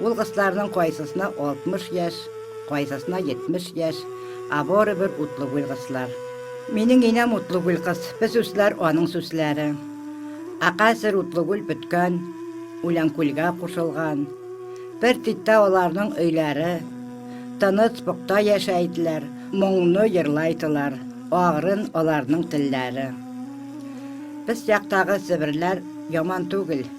Ул кысларның кайсысына 60 яшь, кайсысына 70 яшь, ә барыбер утлы гүл кыслар. Минең инәм утлы гүл кыз, бу сүзләр аның сүзләре. Ә хәзер утлы гүл беткән, Үләнкүлгә кушылган. Бер титтә аларның өйләре. Тыныч, пөхтә яшә иделәр, моңны җырлайтылар, агрын аларның телләре. Без яктагы себерләр яман түгел.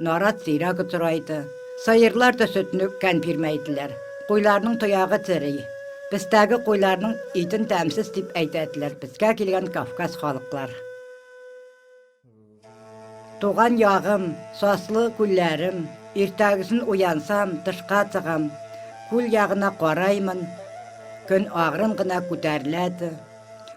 Нарат зирәк утыра иде. Сыерлар да сөтне үпкән бирмәйделәр. Куйларның тоягы тери. Безтәге куйларның итен тәмсез дип әйтә иделәр безгә килгән Кавказ халыклар. Туган ягым, саслы күлләрем. Иртәгесен уянсам, тышка чыгам. Күл ягына караймын, көн агрын гына күтәрелә иде.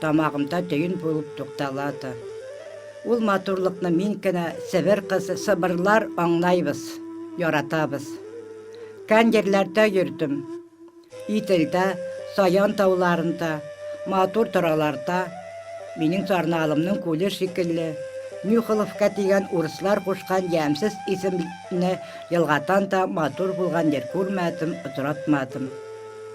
Тамагымда төен булып тукталады. Ул матурлыкны мин кенә, Себер кызы, сыбырлар аңлайбыз, яратабыз. Кән җирләрдә йөрдем. Иделдә, Саян тауларында, матур тораларда, минем сарналымның күле шикелле, Нюхоловка дигән урыслар кушкан ямьсез исемне елгадан да матур булган җир күрмәдем, очратмадым.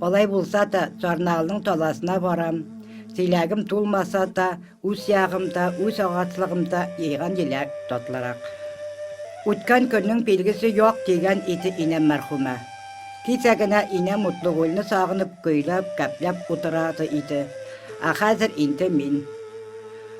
Алай булса да, Сарнаалның таласына барам. Теләгем тулмаса да, үз ягымда, үз агачлыгымда җыйган җиләк татлырак. Үткән көннең билгесе юк, дигән иде инәм мәрхүмә. Кичә генә инәм Мутлыгулны сагынып, көйләп, гәпләп утырады иде. Ә хәзер инде мин.